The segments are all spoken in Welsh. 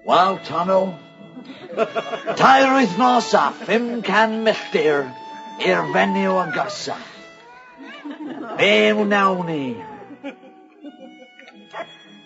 Waw, Tono! Tair wythnos a 500 milltir i'r fenyw agosaf. Be wnawn ni?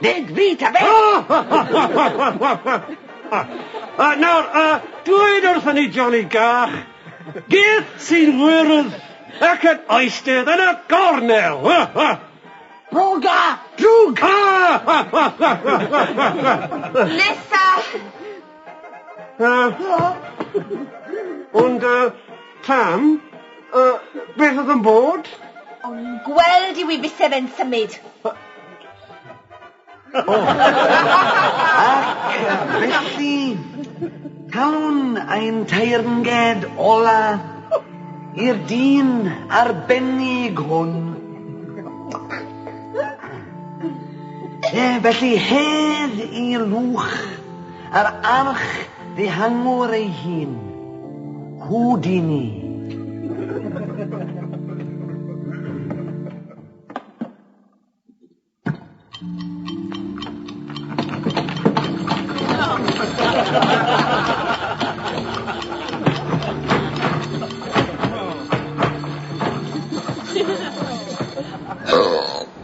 Nid fi, ta beth! Nawr, dweud wrthyn ni, Johnny Gach, gith sy'n wyrdd ac yn oestydd yn y gornel! Drwg a drwg! Nesa! Ond y tam, beth oedd yn bod? O'n i'n gweld i wi fise fe'n symud. Ac felly, talwn ein teyrnged ola i'r dyn arbennig hwn. Ie, felly hedd i Lwch. Yr arch ddihangwr ei hun, Houdini.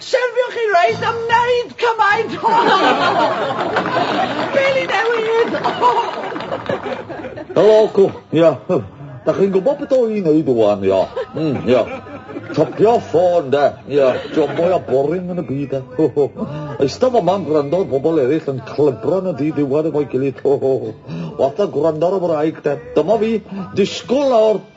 Shelfio chi reit am wneud cymaint o Peli newydd! Helo, cwch, ia. Da chi'n gwybod beth o i'n neud wan, ia. Mm, ia. Topio ffôn, de. Ia, job mwy a boring yn y byd, de. Ho, ho. Eistedd fo ma'n gwrando ar bobl eraill yn clybro yn y dyd iwan efo'i gilydd. Ho, ho. Watha gwrando ar y wraig, de. Dyma fi, disgwyl nawr.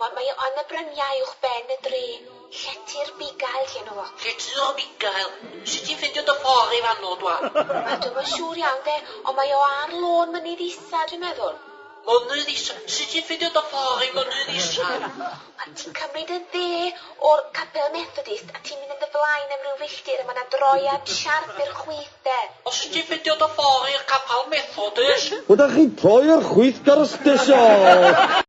Ond mae o yn y bryniau uwch ben y dre, llety'r bugail 'di enw fo. Llety o'r bugail? Sut ti'n ffindio dy ffor i fanno dwa? Wel dwi'm yn siŵr iawn 'de, ond mae o ar lôn Mynydd Isa dwi'n meddwl. Mynydd Isa? Sut ti'n ffindio dy ffor i Mynydd Isa? Wel ti'n cymryd y dde o'r capel Methodist a ti'n mynd yn dy flaen am ryw filltir a ma 'na droiad siarp i'r chwith 'de. O sut ti'n ffindio dy ffor i'r capal Methodist? Wel 'da chi'n troi i'r chwith ger y stesion.